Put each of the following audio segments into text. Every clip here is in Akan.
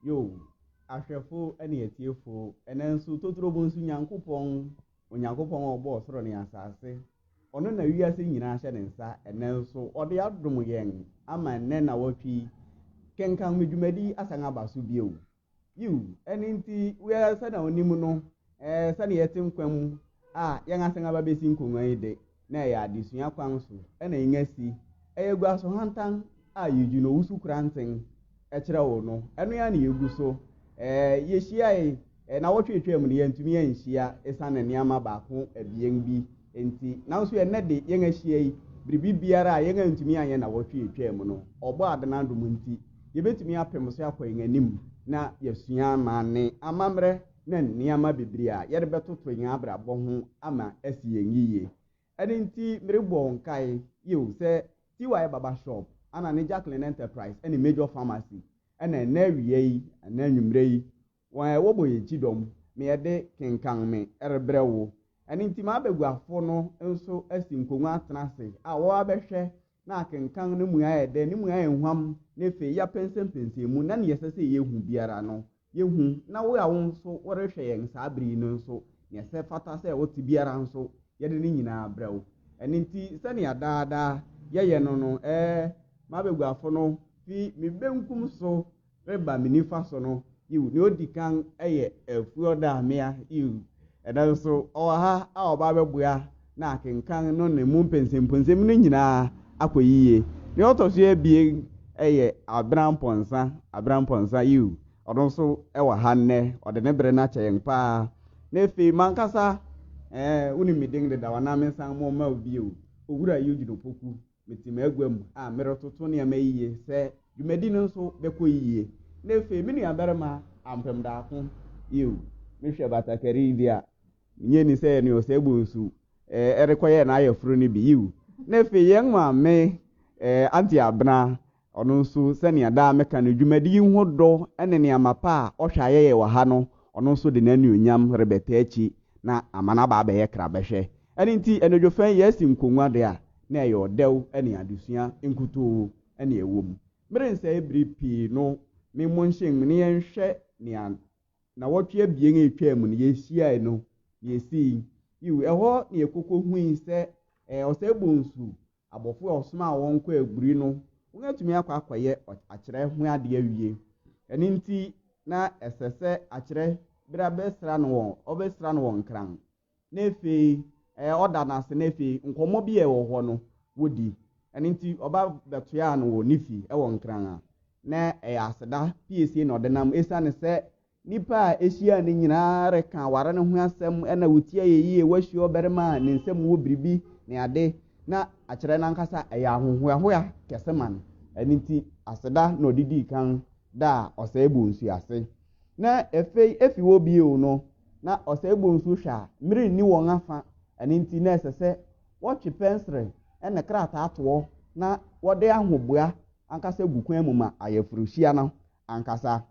Yo, ahwɛfo ne atiefo, ɛnnɛ nso totoro mu nso Nyankopɔn, Onyankopɔn a ɔbɔɔ soro ne asase, ɔno na wiase nyinaa hyɛ ne nsa ɛnnɛ nso, ɔde adom yɛn ama ɛnnɛ na wɔtwe yi. Kenkan me dwumadi asan aba so bio. Yiw, ɛno nti, wiara sɛnea onim no, ɛɛ, sɛnea yɛte nkwa mu a yɛn asan aba besi nkongua yi de, na ɛyɛ adesua kwan so na yenya si. Ɛyɛ gua so hantan a Eugene Owusu-Koranteng kyerɛw no, ɛno ara na yegu so. Ɛɛ, yehyiae, na nnawɔtwe a etwaam no, yɛantumi anhyia esiane nneɛma baako abien bi nti. Nanso ɛnnɛ de, yɛn ahyia yi, biribi biara a yɛn antumi anyɛ nnawɔtwe a etwaam no, ɔbɔ Adan adom nti, yebetumi apem so akɔ yɛn anim na yɛasua amanne, amammerɛ, ne nneɛma bebree a yɛrebɛtoto yɛn abrabɔ ho ama asi yɛn yiye. Ɛno nti, merebɔ wo nkae, yiw, sɛ TY Barber Shop, ɛna ne Jacqueline Enterprise ne Major Pharmacy, ɛna ɛnnɛ awia yi anaa anwummere yi, Wɔn a ɛwɔ bɔ yɛ kyidɔm, me ɛde kenkan me ɛrebrɛ wo. Ɛno nti m'abɛguafo no nso asi nkongua atena ase a wɔ abɛhwɛ na akenkan ne mua yɛ dɛ, ne mua yɛ huam na ɛfei yɛ apɛnsɛmpɛnsɛ mu na neɛ ɛsɛ sɛ yɛ hu biara no yɛ hu na wo a wo nso wo rehwɛ yɛn saa bere yi no nso neɛ ɛsɛ fata sɛ wo te biara nso yɛ de ne nyinaa brɛ wo. Ɛno nti sɛnea daa daa yɛ yɛ no no ɛɛ m'abɛguafo no fi me benkum so reba me nifa so no, yiw, nea odi kan yɛ Afuoda mmea, yiw, ɛda so nso ɔwɔ ha a ɔba abɛboa na akenkan no ne mu mpɛnsɛmpɔnsɛm no nyinaa akɔ yiye. Nea ɔtɔ so abien yɛ Aberampɔnsa, Aberampɔnsa, yiw, ɔno nso wɔ ha nnɛ, ɔde ne bere no akyɛ yɛn paa. Na afei m'ankasa, ɛɛ, wunim me din dedaw, anaa mensan mo mma wo bio, Owura Eugene Opoku, Mete m'agua mu a meretoto nneɛma yiye sɛ dwumadi no nso bɛkɔ yiye. Na afei me nuabarima ampem daako, yiw, mehwɛ batakari yi de a, minnye nni sɛ ɛne ɔsɛebɔ nsu rekɔyɛ n'ayeforo no bi, yiw, na afei yɛn maame, eh, Auntie Abena, Ɔno nso, sɛnea daa meka no, dwumadi yi ho dɔ ne nneɛma pa a ɔhwɛ a yɛyɛ wɔ ha no, ɔno nso de n'anuonyam rebɛtaa akyi na ama no aba abɛyɛ krabɛhwɛ. Ɛno nti, anadwo fã yi yɛasi nkongua de a na ɛyɛ ɔdɛw ne adesua nkutoo na ɛwom. Merensɛe bere pii no me mo nhyem na yɛnhwɛ nea nnawɔtwe abien a etwaam no yehyiae no, nea esii. Yiw, ɛhɔ na yɛkokohui sɛ ɔsɛe bonsu Abɔfo a ɔsomaa wɔn kɔɔ aburi no, wɔatumi akɔ akɔyɛ akyerɛ ho ade awie. Ɛno nti, na ɛsɛ sɛ akyerɛ bere a bɛsra no wɔn, ɔbɛsra no wɔn nkran, na afei ɛɛ ɔda no ase, na afei nkɔmmɔ bi a ɛwɔ hɔ no, wɔdi. Ɛno nti, ɔba bɛtoaa no wɔ Nephi wɔ Nkran a na ɛyɛ aseda piesie na ɔde nam, esiane sɛ Nnipa a ehyiaa no nyinaa reka aware no ho asɛm na wotia yɛ yiye. Wɔahyia ɔbarima a ne nsam wɔ biribi ne ade, na akyerɛ no ankasa ɛyɛ ahohoahoa kɛse ma no. Ɛno nti, aseda na ɔde dii kan daa ɔsɛe bonsu ase. Na afei efi hɔ bio no, na ɔsɛe bonsu hwɛ a mmere nni wɔn afã, ɛno nti na ɛsɛ sɛ wɔtwe pɛnsere ne krataa toɔ na wɔde ahoboa ankasa gu kwan mu ma ayeforohyia no ankasa.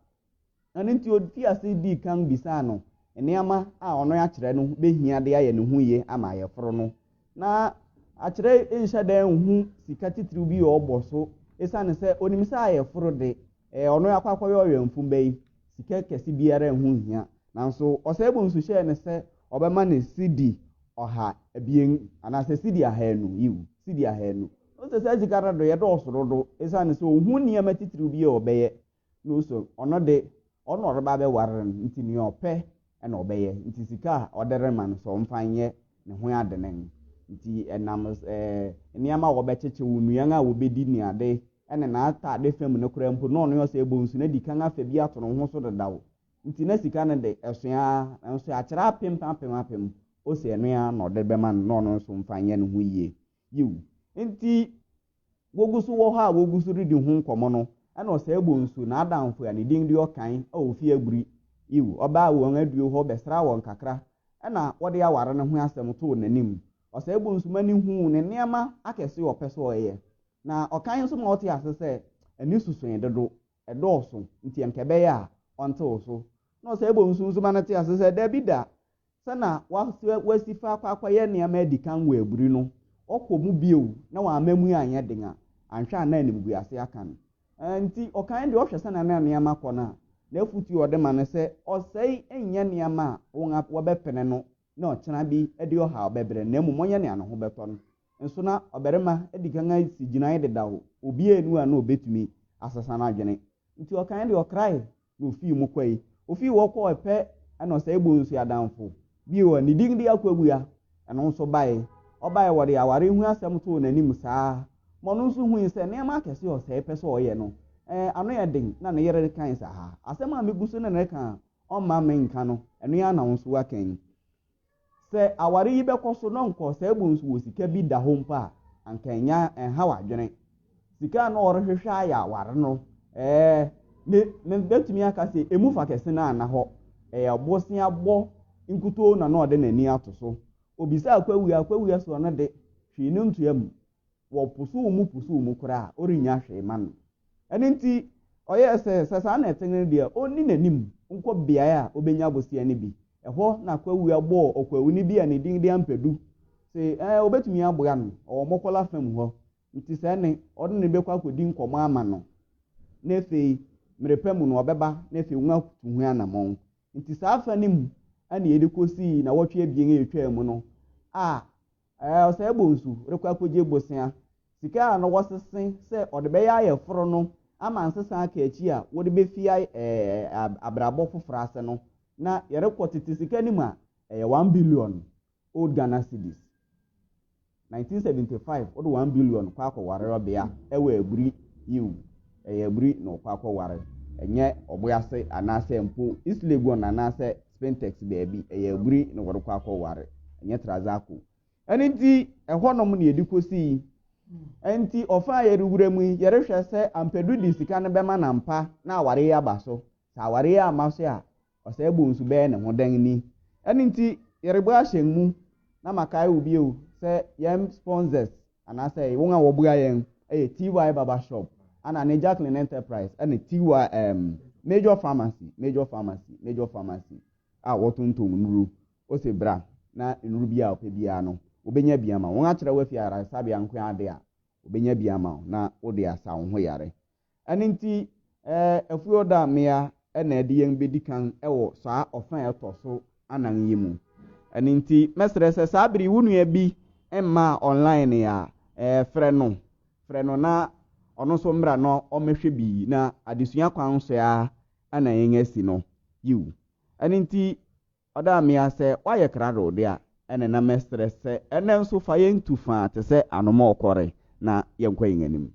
Ɛno nti ofii ase dii kan bisaa no nneɛma a ɔno akyerɛ no behia de ayɛ ne ho ye ama ayeforo no. Ná akyerɛ nhyɛ da nhu sika titiriw bi a ɔbɔ so esiane sɛ onim sɛ ayeforo de, ɛyɛ ɔno akɔ akɔyɛ ɔwɛmfo ba yi, sika kɛse biara ho nhia. Nanso ɔsɛebo nso hyɛɛ no sɛ ɔbɛma no sidi ɔha abien anaasɛ sidi ahanu, yiw, sidi ahanu. Ɔse saa sika no doyɛ dɔɔso dodo esiane sɛ ohu nneɛma titiriw bi a ɔbɛyɛ na ose ɔno de ɔno na ɔreba abɛware no nti nea ɔpɛ na ɔbɛyɛ nti sika a ɔde rema no sɛ ɔmfa nyɛ ne ho adennen nti ɛnam eh, nneɛma a wɔbɛkyekye wo nnuan a wɔbɛdi ne ade ɛne n'ataade fam no koraa mpo na ɔno ɔsɛ ɛbɔ nsu na di kan afa bi ato no ho so dedaw nti na sika no de ɛso ara nanso akyerɛ apem apem apem ose ɛno ara na ɔde bɛma no na ɔno nso mfa nyɛ ne ho yie Yiw, enti wogu so wɔ hɔ a wogu so redi ho nkɔmmɔ no, ɛnna ɔsɛe bɔ nsu. N'adamfo a ne din de Ɔkan a ofi Aguri, yiw, ɔbaa wɔn adiwo hɔ bɛsraa wɔn kakra, ɛnna wɔde aware no ho asɛm too n'anim. Ɔsɛe bɔ nsu ma ne huu ne nneɛma akɛse a ɔpɛ sɛ ɔyɛ, na Ɔkan nso ma ɔtee ase sɛ ani so sua dodo, ɛdɔɔso, nti anka ɛbɛyɛ a ɔntew so. Na ɔsɛe bɔ nsu nso ma no tee ase sɛ dabi da, sɛ na wasɛ wasi fa akɔ akɔyɛ nneɛma adi kan wɔ aburi no, ɔkɔ mu bio na wamma mu anyɛ den a, anhwɛ a na animguase aka no. Enti, ɔkan deɛ ɔhwɛ sɛnea na nneɛma kɔ no a, n'afotu a ɔde ma no sɛ, Ɔsɛe nyɛ nneɛma a wɔbɛpene no na ɔkyena bi de ɔhaw bɛbrɛ no, na mmom ɔnyɛ nea ne ho bɛtɔ no. nso na ɔbarima adi kan asi gyinae dedaw, obiara nni hɔ a na obetumi asesa n'adwene. Enti ɔkae de ɔkrae na ofii mu kɔe. Ofii hɔ kɔɔ Ɛpɛ ne Ɔsɛe Bonsu Adamfo bi hɔ, ne din de Akwaabua, ɛno nso bae. Ɔbae, wɔde aware ho asɛm too n'anim saa ara ma ɔno nso hui sɛ nneɛma akɛse a ɔsɛe pɛ sɛ ɔyɛ no, ɛɛ, ano yɛ den na ne yere rekae sɛ, Haa, asɛm a migu so ne no reka a ɔmma menka no, ɛno ara na wo nso woaka yi. Sɛ aware yi bɛkɔ so na ɔnkɔ saa mu nso wɔ sika bi da hɔ mpo a, anka ɛnyɛ a, ɛnhaw adwene. Sika a na ɔrehwehwɛ ayɛ aware no, ɛɛ, me, mebɛtumi aka sɛ ɛmu fa kɛse no anna hɔ. Ɛyɛ boseabɔ nkutoo na na ɔde n'ani ato so. Ɔbisaa Kwawia, Kwawia sɛ ɔno de, hwee no ntoa mu. wɔposow mu posow mu koraa a, ɔrennya hwee mma no. Ɛno nti, ɔyɛɛ sɛ, sɛ saa na ɛte no deɛ, ɔnni n'anim nkɔ beaeɛ a ɔbɛnya bosea no bi. Ɛhɔ na Kwawua bɔɔ ɔkwawuni bi a ne din de Ampadu se ɛɛ ɔbɛtumi aboa no, ɔwɔ Mɔkɔla fam hɔ, nti sɛ ɛnne ɔne no bɛkɔ akɔdi nkɔmmɔ ama no, na afei mmerɛ pa mu no ɔbɛba na afei wɔatu ho anammɔn. Nti saa afa no mu na yɛde kɔsii nnawɔtwe abien a ɛtwaa mu no a Ɛɛ, ɔsɛe bonsu rekɔ akogye bosea. Sika a na wɔsese sɛ ɔde bɛyɛ ayeforo no ama nsesa aka akyi a wɔde befi abrabɔ foforo ase no, na yɛrekɔ tete sika no mu a, ɛyɛ one billion Old Ghana Cedis. Nineteen seventy five, wode one billion kɔ akɔware ɔbea wɔ aburi, yiw, ɛyɛ aburi na ɔkɔ akɔware, ɛnyɛ ɔboase anaasɛ mpo East Legon anaasɛ Spintex baabi. Ɛyɛ aburi na wɔde kɔ akɔware. Ɛnyɛ Trazaco. Ɛno nti, ɛhɔnom na yɛde kosii. Ɛnti, ɔfa a yɛrewura mu yi, yɛrehwɛ sɛ Ampadu de sika no bɛma no ampa na aware yi aba so. Sɛ aware yi amma so a, Ɔsɛe Bonsu bɛyɛ ne ho dɛn ni? Ɛno nti, yɛrebɔ ahyɛn mu na makae wo bio sɛ yɛn sponsors anaasɛ wɔn a wɔboa yɛn yɛ TY Barber Shop, ɛna ne Jacqueline Enterprise, ɛna TY um, Major Pharmacy, Major Pharmacy, Major Pharmacy, a wɔtontom nnuru. Ose bra, na nnuru bi a ɔpɛ biara no, wobɛnya bi ama wo. Wɔakyerɛ wo afi ayaresabea nko ara de a, wobɛnya bi ama wo, na wode asa wo ho yare. Ɛno nti, Ɛfuoda mmea na ɛde yɛn bedi kan wɔ saa ɔfã a ɛtɔ so anan yi mu. Ɛno nti, mɛsrɛ sɛ saa bere yi wo nua bi mmaa online a, frɛ no, frɛ no na ɔno nso mmra na ɔmmɛhwɛ bi na adesua kwan so ara na yɛasi no. Yiw. Ɛno nti, Ɔda mmea sɛ wɔayɛ krado de a, ɛnna na mɛsrɛ sɛ ɛnnɛ nso fa yɛn tu fã te sɛ anomɔɔ kɔre na yɛnkɔ yɛn anim.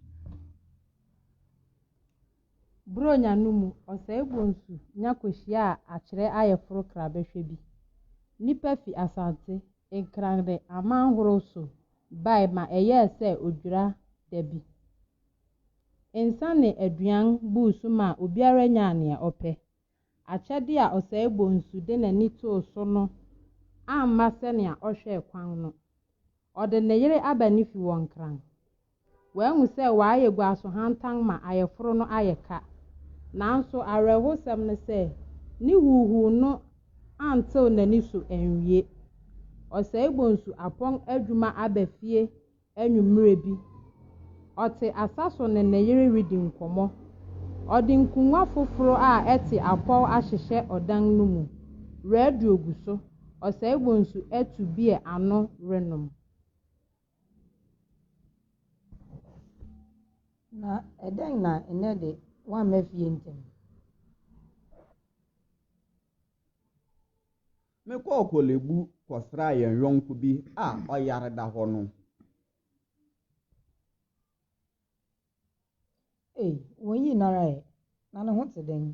Buronya no mu ɔsɛe bonsu nya kohyiaa akyerɛ ayeforo krabɛhwɛ bi. Nnipa fi Asante, Nkran ne aman horow so bae ma ɛyɛɛ sɛ odwira da bi. Nsa ne aduan buu so maa obiara nyaa nea ɔpɛ. Akyɛde a Ɔsɛe Bonsu de n'ani too so no amma sɛnea ɔhwɛe kwan no. Ɔde ne yere aba ne fi wɔ Nkran. Wahu sɛ wayɛ gua so hantan ma ayeforo no ayɛ ka. Nanso awerɛhosɛm ne sɛ, ne huuhuu no antew n'ani so anwie. Ɔsɛe Bonsu apɔn adwuma aba fie Anwummere bi, ɔte asa so ne ne yere redi nkɔmmɔ. Ɔde nkongua foforo a ɛte apɔw ahyehyɛ ɔdan no mu. Radio gu so. Ɔsɛe Bonsu atu beer ano renom. Na ɛdɛn na nnɛ de woamma fie ntɛm? Mekɔɔ Korle Bu kɔsraa yɛn yɔnko bi a ɔyare da hɔ no. Ei, wɔyii no ara ɛ, na ne ho te dɛn?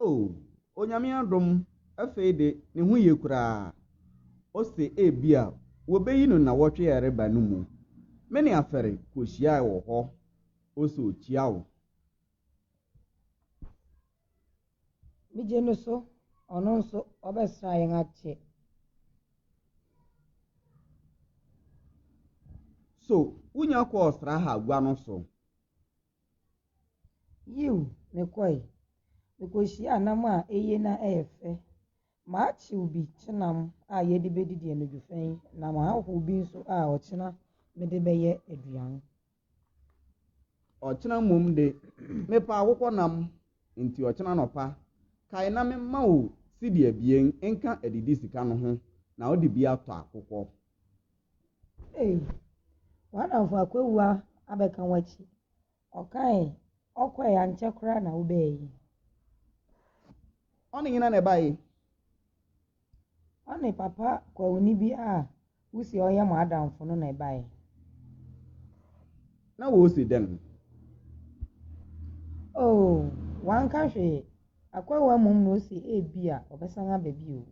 O, Onyame adom, afei de, ne ho ye koraa. Ose ebia wɔbɛyi no nnawɔtwe a ɛreba no mu. Me ne Afɛre kɔhyiae wɔ hɔ. Ose okyia wo. Megye no so, ɔno nso ɔbɛsra yɛn akyɛ. So wunya kɔɔ Sraha gua no so? Yiw, mekɔe. Mikohyiaa nam a eye na ɛyɛ fɛ. Makyew bi kyenam a yɛde bedidi anadwo fã yi na mahow bi nso a ɔkyena mede bɛyɛ aduan. Ɔkyena mmom de, mepɛ akokɔnam, enti ɔkyena anɔpa, kae na memma wo sidi abien nka adidi sika no ho, na wode bi atɔ akokɔ. Ei, w'adamfo Akwawu abɛka w'akyi, ɔkae. Ɔkɔe, ankyɛ koraa na wobae. Ɔne hena na ɛbae? Ɔne papa kwauni bi a wuse ɔyɛ mo adamfo no na ɛbae. Na wɔresi dɛn? Oo, wanka hwee. Akwahoa mmom na ose ebia ɔbɛsan aba bio.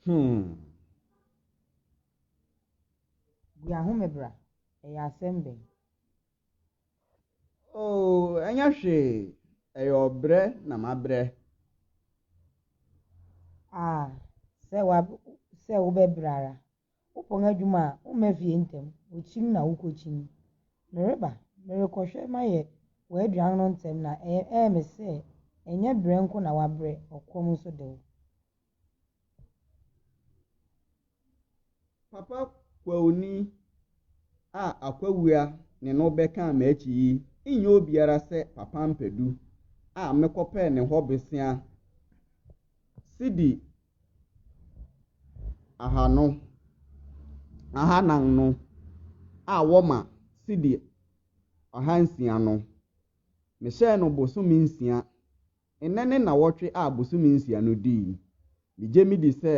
Hmm. Bua ho me bra, ɛyɛ asɛm bɛn? Oo, ɛnyɛ hwee, ɛyɛ ɔbrɛ na mabrɛ. Ah, sɛ wa sɛ wobɛbrɛ ara. Wopɔn adwuma a, womma fie ntɛm, wokyin na wokokyin. Mereba, merekɔhwɛ mayɛ w'aduan no ntɛm na ɛyɛ ɛyɛ me sɛ ɛnyɛ brɛ nko na wabrɛ, ɔkɔm nso de wo. Papa kwauni a akwawia ne no bɛka m'akyi yi nyɛ obiara sɛ Papa Ampadu a mekɔpɛɛ ne hɔ bosea sidi ahanu ahanan no a wɔma sidi ahansia no. Mehyɛɛ no bosome nsia. Nnɛ ne nnawɔtwe a bosome nsia no dui. Megye medi sɛ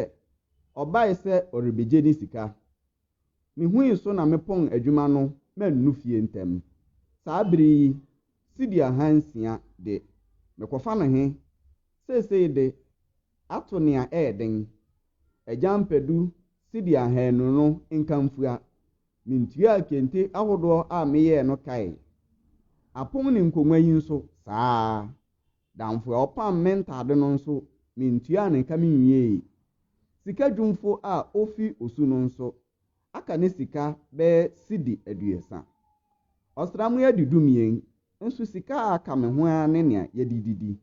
ɔbae sɛ ɔrebegye ne sika. Mihui so na mepɔn adwuma no mannu fie ntɛm. Saa bere yi, cedi ahansia de, mekɔfa no he? Seesei de, ato nea ɛyɛ den. Agyampadu cedi ahaanu no nkamfua Mintuaa kente ahodoɔ a meyɛɛ no kae. Apom ne nkongua yi nso, saa ara. Damfo a ɔpam me ntade no nso, mentuaa ne ka menwiee. Sika dwumfo a ofi Osu no nso, aka ne sika bɛyɛ cedi aduesa. Ɔsram yi adi dumien, nso sika a aka me ho ara ne nea yɛde redidi.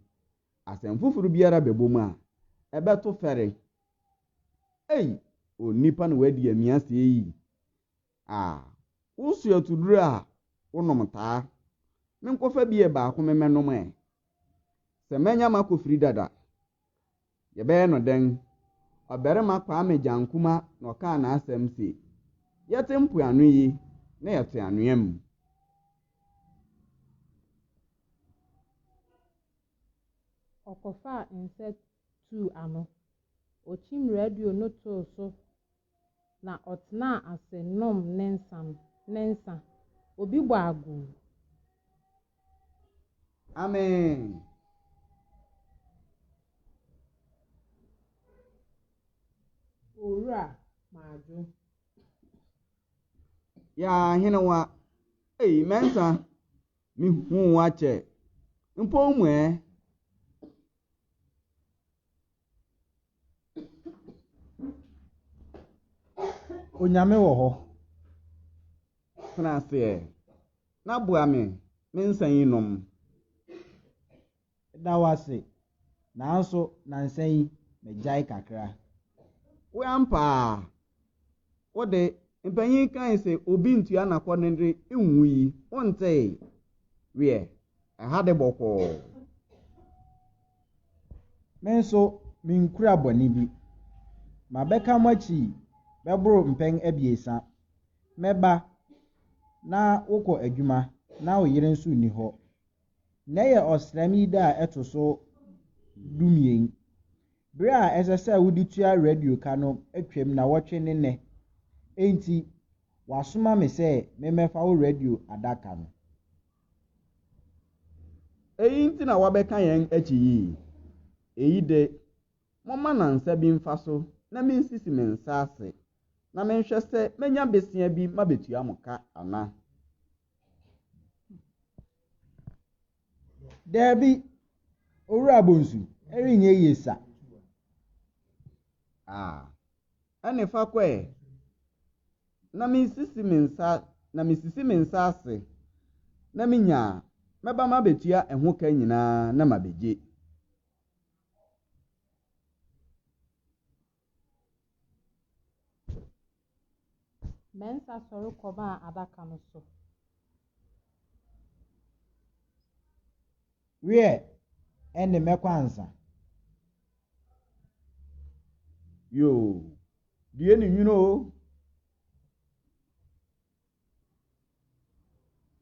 Asɛm foforo biara bɛbom a, ɛbɛto fɛre. Ei! Onipa na wadi amia sɛɛ yi? Ah! Woso atuduro a wonom taa. Menkɔfa beer baako memmɛnom ɛ? Sɛ manya m'akofiri dada. Yɛbɛyɛ no dɛn? Ɔbarima Kwame Gyankumah na ɔkaa n'asɛm se, Yɛte mpoano yi na yɛte anwea mu. Ɔkɔfaa nsɛ tuu ano. Okyim radio no too so na ɔtsenaa ase noom ne nsa no, ne nsa. Obi bɔ agoo. Amen! Owura, madwo. Yaa henewa, ei, mɛnsa, mehuu wo akyɛ, mpo wo mu ɛ. Onyame wɔ hɔ. Tena aseɛ na boa me me nsa yi nom. Meda wo ase nanso nansa yi magyae kakra. Woampa a. Wo de, mpanyin kae se obi ntua n'akɔnnɔ de nwu yi, wontee? Wiɛ, ɛha de bɔkɔɔ. Me nso, minkura bɔne bi. Mabɛka mo akyi bɛboro mpɛn abiɛsa. Mɛba, na wokɔ adwuma, na wo yere nso nni hɔ. Nnɛ yɛ ɔsram yi da a ɛto so dumien. Bere a ɛsɛ sɛ wode tua radio ka no atwam nnawɔtwe ne nnɛ. Enti, wɔasoma me sɛ memmɛfa wo radio adaka no. Eyi nti na woabɛka yɛn akyi yi? Eyi de, Momma nansa bi mfa so na minsisi me nsa ase na menhwɛ sɛ mɛnya besia bi mabetua mo ka ana? Dabi, Owura Bonsu, ɛrenyɛ yie sa. Ah, ɛne fa kɔ ɛ. Na mesisi me nsa, na mesisi me nsa ase na menya a, mɛba mabetua ɛho ka nyinaa na mabegye. Mensah sɔre kɔbaa adaka no so. Wiɛ, ɛnde mɛkɔ ansa. Yoo, due ne nwunu o.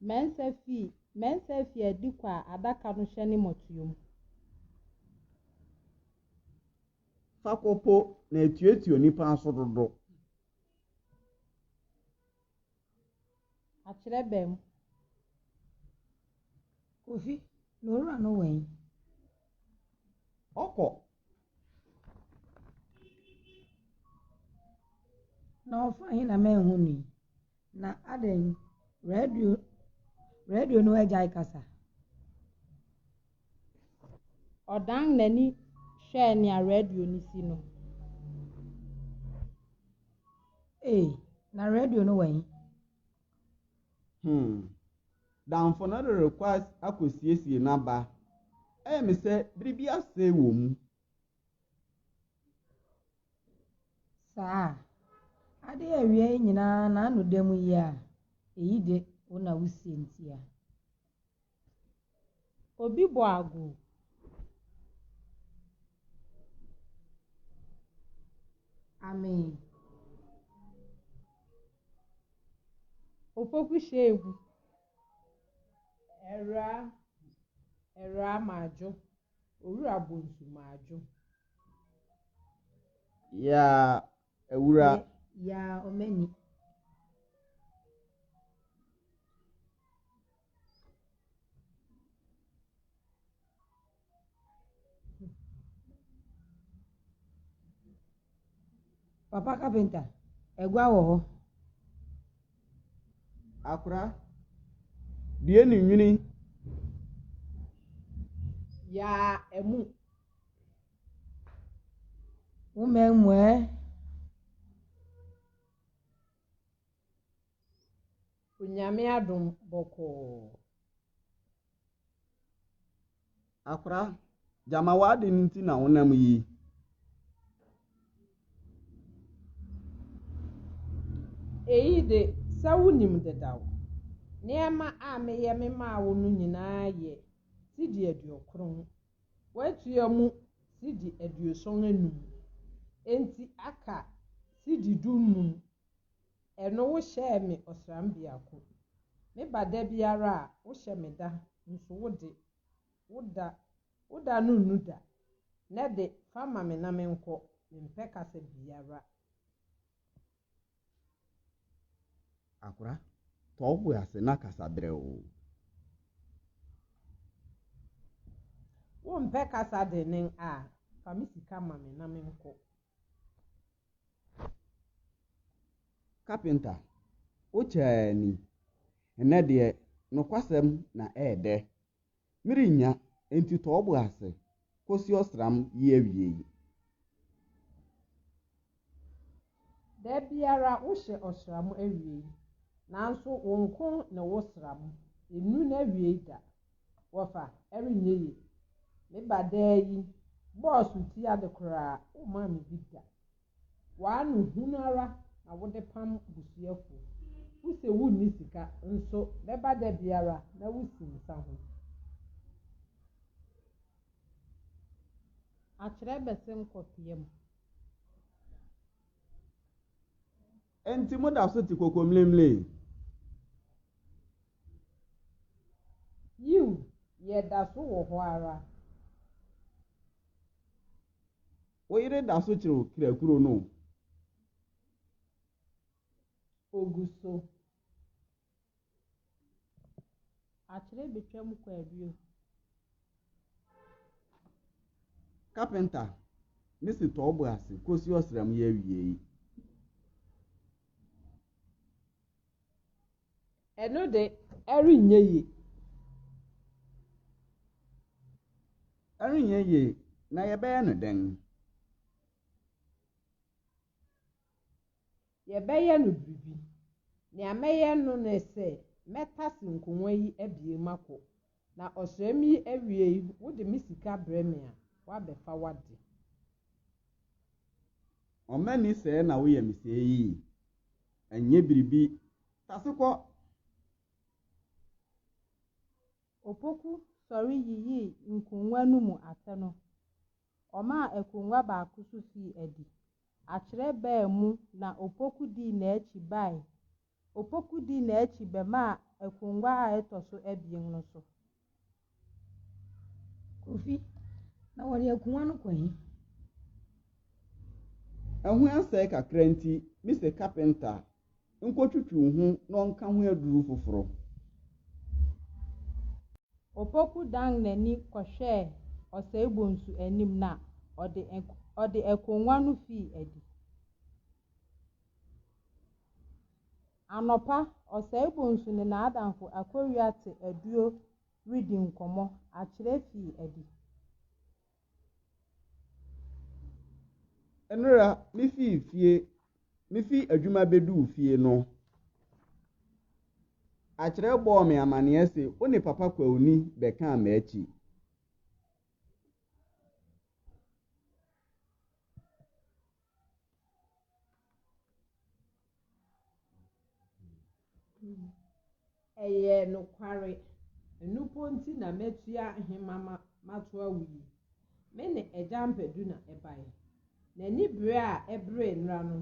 Mensah fii Mensah fii adi kɔ a adaka no hyɛ ne mmɔtoa mu. Fa kɔ po na etuatua onipa aso dodo. Akyerɛbɛn mu. Kofi, na owura no wɔ he? Ɔkɔ. Na ɔfa he na manhu no yi? Na adɛn, radio, radio no agyae kasa? Ɔdan n'ani hwɛɛ nea radio no si no. Ee, na radio no wɔ he? Hmm. Damfo no de rekɔ as akosiesie n'aba. Ɛyɛ me sɛ biribi asɛe wɔ mu. Saa. Ade a awia yi nyinaa n'ano da mu yi a, eyi de, wo na wusie ntia. Obi bɔ agu. Amen. Opoku hyɛ egu. Ɛwura, ɛwura madwo. Owura bonsu madwo. Yeah. Awura. Yaa Omeni. Papa kapenta, agua wɔ hɔ. Akora, due ne nwini. Yaa amu. Wo mma mmuae. Onyame adom bɔkɔɔ. Akora, gyama w'ade no nti na wonam yi. Eyi de, sɛ wunim dedaw. Nneɛma a meyɛ memaa wo no nyinaa yɛ sidi aduokron Wɔatua mu cedi aduoson anum, enti aka cedi dunnum. Ɛno wohyɛɛ me ɔsram biako. Meba da biara a, wohyɛ me da, nso wo de, wo da, wo da no nnu da. Nnɛ de, fa ma me na menkɔ, mempɛ kasa biara. Akora, tɔ wo bo ase na kasa brɛoo. Wompɛ kasa dennen a, fa me sika ma me na menkɔ. Kapenta, wo kyaa ni. Nnɛ deɛ, nokwasɛm na ɛɛdɛ. Merennya, enti tɔ wo bo ase kosi ɔsram yi awiei. Da biara wohyɛ ɔsram awiei, nanso wo nko ne wo sram, ennu n'awiei da. Wɔfa, ɛrenyɛ ye. Me ba daa yi bɔɔ so ti ade koraa, wommaa me bi da. W'ano hunu ara na wode pam busuafo. Wose wonni sika nso bɛba da biara na wosi nsa ho. Akyerɛ bɛse nkɔ pia mu. Enti moda so te kokomlemle yi? Yiw, yɛda so wɔ hɔ ara. Wo yere da so kyere wo kra kuro no o. Ogu so. Akyere betwa mu kɔ abio. Carpenter me se tɔ wobo ase kosi ɔsram yi awiei. Ɛno de, ɛrenyɛ yie. Ɛrenyɛ yie. Na yɛbɛyɛ no dɛn? Yɛbɛyɛ no biribi. Nea mɛyɛ no ne sɛ mɛtase nkongua yi abien makɔ. Na ɔsram yi awiei wode me sika brɛ me a, woabɛfa w'ade. Ɔma ni sɛɛ na woyɛ me sɛɛ yi? Ɛnyɛ biribi, tase kɔ! Opoku sɔre yiyii nkongua no mu atɛ no, ɔmaa akongua baako so fii adi. Akyerɛ baa mu na Opoku dii n'akyi bae Opoku dii n'akyi bɛmaa akongua a ɛtɔ so abien no so. Kofi, na wɔde akongua no kɔ he? Ɛho asɛe kakra nti, mise kapenta nkɔtwitwiw ho na ɔnka ho aduru foforo. Opoku dan n'ani kɔhwɛɛ Ɔsɛe Bonsu anim na ɔde akongua no fii adi. Anɔpa, Ɔsɛebonsu ne n'adamfo Akowia te aduo redi nkɔmmɔ. Akyerɛ fii adi. Nnora, mifii fie, mifii adwuma beduu fie no, Akyerɛ bɔɔ me amanneɛ se wo ne Papa Kwauni bɛkaa m'akyi. Ɛyɛ nokware. Ɛno mpo nti na matua hema ma mato awo yi. Me ne Agya Ampadu na ɛbae. N'ani bere a ɛberee nnora no,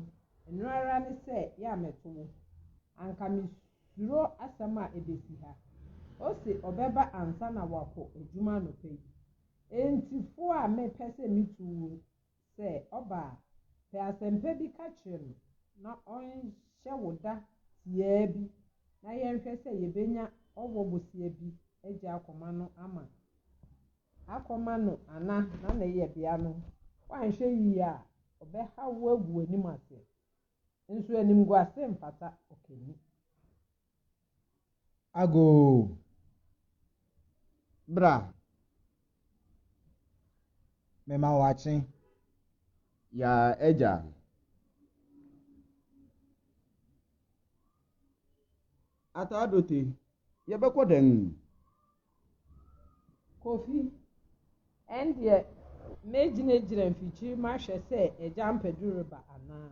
ɛno ara ne sɛ yɛ a mɛto wo. Anka misuro asɛm a ebesi ha. Ose ɔbɛba ansa na wakɔ adwuma anɔpa yi. Enti fo a mepɛ sɛ mitu wo Sɛ ɔba a, pɛ asɛmpa bi ka kyerɛ no na ɔnhyɛ wo da tiaa bi na yɛnhwɛ sɛ yɛbɛnya ɔwɔ bosea bi agya akɔma no ama akɔma no ana na ne yɛbea no woanhwɛ yie a ɔbɛhaw wo agu w'anim ase nso animguase mfata ɔkani. Agoo! Bra! Mema wo akye. Yaa agya. Ataadote, yɛbɛkɔ dɛn? Kofi, Ɛndeɛ mɛgyinagyina mfikyiri mahwɛ sɛ agya Ampadu reba anaa?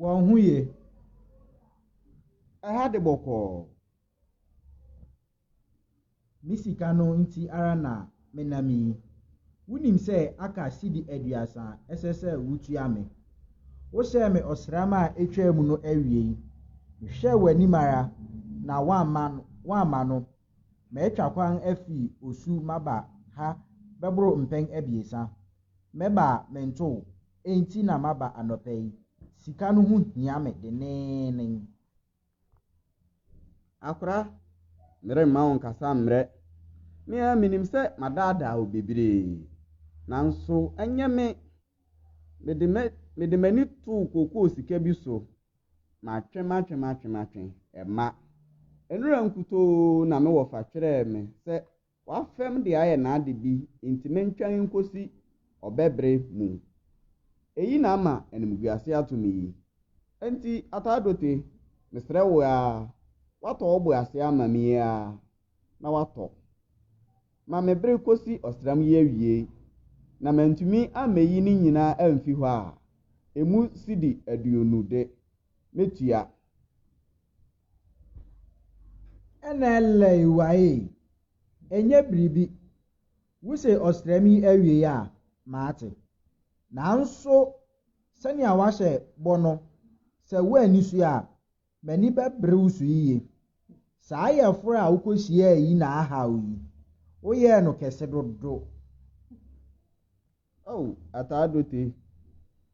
Wɔn ho ye? Ɛha de bɔkɔɔ. Me sika no nti ara na menam yi. Wunim sɛ aka cedi aduasa a ɛsɛ sɛ wutua me. Wohyɛɛ me ɔsram a etwaam no awiei. Mehwɛɛ w'anim ara na woamma no woamma no. Matwa kwan afi osu maba ha bɛboro mpɛn abiɛsa. Mɛba a mento wo. Enti na maba anɔpa yi. Sika no ho hia me denneennen. Akora, meremma wo nkasa mmrɛ. Me ara minim sɛ madaadaa wo bebree. Nanso ɛnyɛ me. Mede mɛ, mede m'ani too kookoo sika bi so. Matwe, matwe, matwe, matwe. Ɛmma. Nnora nkutoo na me wɔfa twerɛɛ me sɛ W'afɛm de ayɛ n'ade bi nti mentwɛn nkosi ɔbɛbre mu. Eyi na ama animguase ato me yi. Enti Ataadote, mesrɛ wo aa, w'atɔ wo bo ase ama me yi aa, na w'atɔ. Ma me bre kosi ɔsram yi awiei, na mantumi ammeyi ne nyinaa amfi hɔ a, emu sidi aduonu de, mɛtua. Ɛna ɛlɛe waee. Ɛnyɛ biribi. Wose ɔsram yi awiei a, mate. Nanso sɛnea woahyɛ bɔ no, sɛ woanni so a, m'ani bɛbere wo so yiye. Saa yaforo a wukohyiae yi na ahaw yi, woyɛɛ no kɛse dodo. Oh Ataa Dote,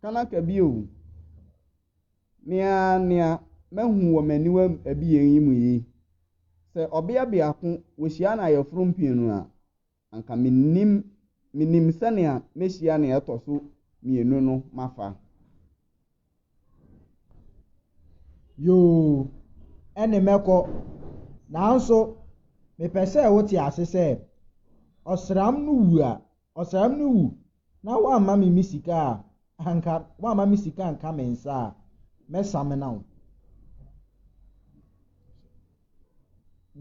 Kanaka bi o. Me ara nea mahu wɔ m'aniwa abien yi mu yi, sɛ ɔbea biako wohyia no ayeforo mprenu a, anka minnim, minnim sɛnea mehyia nea ɛtɔ so mmienu no mafa. Yoo, ɛne mɛkɔ. Nanso, mepɛ sɛ wote ase sɛ, ɔsram no wu a, Ɔsram no wu na woamma me me sika a anka woamma me sika anka me nsa a mɛsamena wo.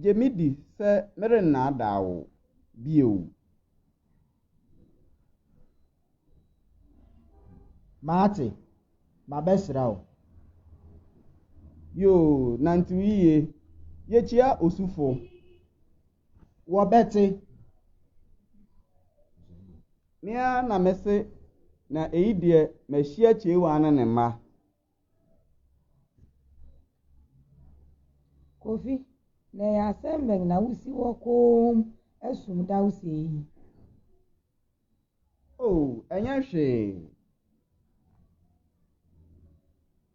Gye me di sɛ merennaadaa wo bio. Mate, mabɛsra wo. Yoo, nantew yiye. Yekyia osufo. wɔbɛte. Me ara na mese na eyi deɛ mahyia Kyeewaa ne ne mma. Kofi, na ɛyɛ asɛm bɛn na wosi hɔ komm sum daw sei yi? Oh, ɛnyɛ hwee.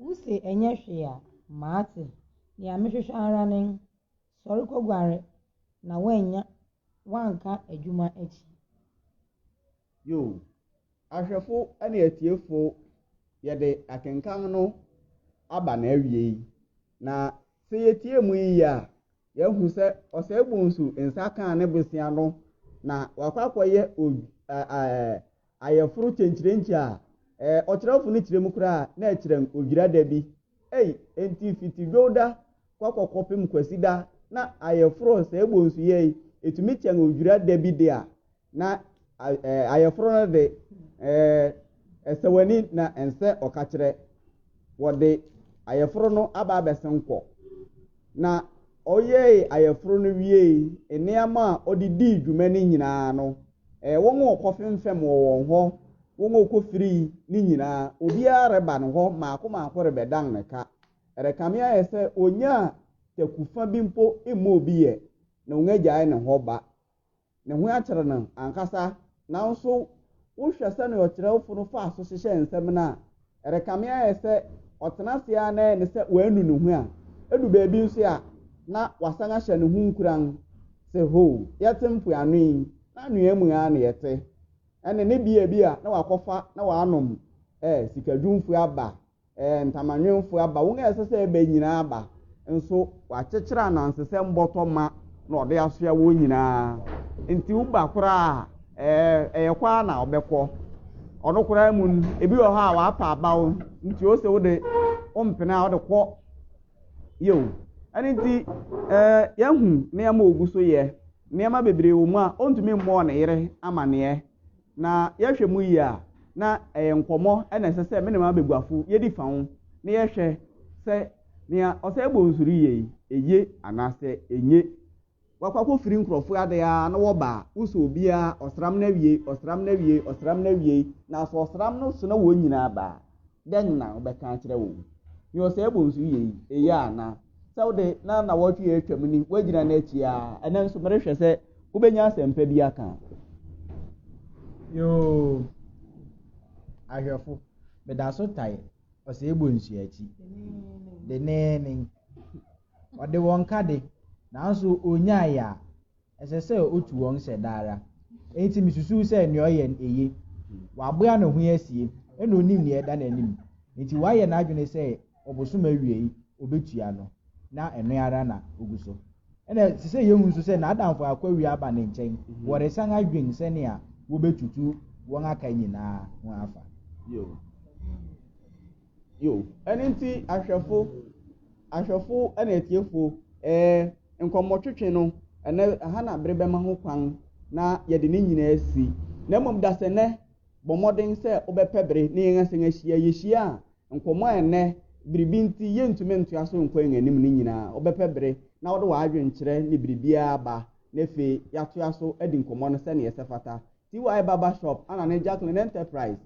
Wose ɛnyɛ hwee a, mate. Nea mehwehwɛ ara ne, sɔre kɔguare na woannya woanka adwuma akyi. Yoo. Ahwɛfo ne atiefo, yɛde akenkan no aba n'awiei, na sɛ yetie mu yiye a, yɛahu sɛ Ɔsɛe Bonsu nsa kaa ne bosea no na wakɔ akɔyɛ Ayeforo kyenkyerenkye a eh Ɔkyerɛwfo no kyerɛ mu koraa na ɛkyerɛn odwira da bi ei Enti fiti Dwowda kɔ kɔkɔpem Kwasida na ayeforo Sɛ ɛbɔ nsu yɛ ei Ɛtumi kyɛn odwira da bi de a na eh Ayeforo no de eh Ɛsɛ w'ani na ɛnsɛ ɔkakyerɛ Wɔde ayeforo no aba abɛsen kɔ Na ɔyɛe ayeforo no wiei Nneɛma a ɔde dii dwuma no nyinaa no Ɛyɛ wɔn a wɔkɔfemfɛm wɔ wɔn hɔ, wɔn a wɔkɔfirii no nyinaa. Obiara reba ne hɔ mmaako mmaako rebɛdan ne ka. Ɛrekame ayɛ sɛ ɔnyaa taku fa bi mpo mmɔɔ bi ɛ, na wɔagyae ne hɔ ba. Ne ho akyere no ankasa. Nanso wohwɛ sɛnea ɔkyerɛwfo no faa so hyehyɛɛ nsɛm no a, ɛrekame ayɛ sɛ ɔtena ase ara na ayɛ no sɛ wanu ne ho a, edu baabi nso a, na wasan ahyɛ ne ho nkuran sɛ, Hoo, yɛte mpoano yi, na anwea mu ara na yɛte. Ɛnne ne bea bi a na wakɔfa na wanom ɛ, sikadwumfo aba ɛ, ntamanwemfo aba, wɔn a ɛsɛ sɛ ɛba nyinaa aba. nso wakyekyere anansesɛm bɔtɔ ma na ɔde asoa wɔn nyinaa. Nti woba koraa a, ɛyɛ kɔ ara na ɔbɛkɔ. Ɔno koraa mu no, ebi wɔ hɔ a wapa abaw, nti ose wo de wompene a wode kɔ. Yeo. Ɛno nti, yɛahu nneɛma a ogu so yɛ. Nneɛma bebree wɔ mu a ontumi mmɔɔ ne yere amanneɛ. Na yɛhwɛ mu yie a, na ɛyɛ nkɔmmɔ na ɛsɛ sɛ me ne m'abaguafo yedi fa ho na yɛhwɛ sɛ nea ɔsɛ yɛbɔ nsu no yɛ yi, eye anaasɛ enye. Wɔakɔ akɔfiri nkurɔfo ade ara na wɔba a, wosɔ obiara, ɔsram no awiei, ɔsram no awiei, ɔsram no awiei, na sɛ ɔsram no so na wɔn nyinaa ba a, dɛn na wɔbɛka akyerɛ wo? Hwɛ ɔsɛe bonsu yi yɛ yi, eye ana? Sɛ wo de, na nnawɔtwe a atwam ni, woagyina n'akyi ara, ɛnnɛ nso merehwɛ sɛ wobɛnya asɛmpa bi aka. Yoo, ahwɛfo, meda so tae ɔsɛe bonsu akyi denneennen. Wɔde wɔn ka de, nanso onnyae a, Ɛsɛ sɛ otu wɔn hyɛ daa ara. Enti misusuw sɛ nea ɔyɛ no eye. Waboa ne ho asie, ɛnna onim nea ɛda n'anim. Enti wayɛ n'adwene sɛ ɔbosom awiei obetua no, na ɛno ara na ogu so. Ɛnna ɛsɛ sɛ yehu nso sɛ n'adamfo akɔawia aba ne nkyɛn, wɔresan adwen sɛnea wobetutu wɔn aka nyinaa ho afa. Yo, ɛno nti ahwɛfo, ahwɛfo ne atiefo, ɛɛ, nkɔmmɔtwetwe no, ɛnnɛ, ɛha na bere bɛma ho kwan na yɛde ne nyinaa asi. Na mmom dasɛnnɛ, bɔ mmɔden sɛ wobɛpɛ bere ne yɛn asan ahyia. Yehyia a, nkɔmmɔ a ɛnnɛ biribi nti yentumi ntoa so nkɔ yɛn anim no nyinaa, wobɛpɛ bere na wode w'adwenkyerɛ ne biribiara aba, na afei yɛatoa so adi nkɔmmɔ no sɛnea ɛsɛ fata. TY Barber Shop, Anna ne Jacqueline Enterprise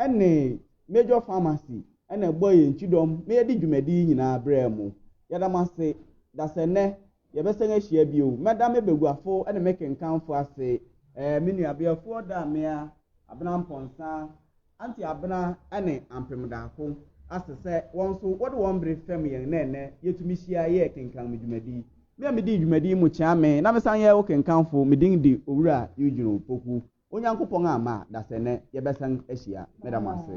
ne Major Pharmacy na ɛbɔɔ yɛn kyidɔm ma yɛde dwumadi yi nyinaa brɛɛ mo. Yɛda mo ase. Dasɛnnɛ, yɛbɛsan ahyia bio. Mɛda me baguafo ne me kenkanfo ase. Ɛɛ, me nuabea Fuɔ daa mmea, Abena Mpɔnsa, Auntie Abena ne Ampem Daako ase sɛ wɔn nso wɔde wɔn bere fɛm yɛn na ɛnnɛ yɛtumi hyia yɛɛ kenkan me dwumadi. Me a medii dwumadi yi mu kyea me na mesan yɛɛ wo kenkanfo, me din de Owura Eugene Opoku. Onyankopɔn amma a, dasɛ nnɛ yɛbɛsan ahyia. Meda mo ase.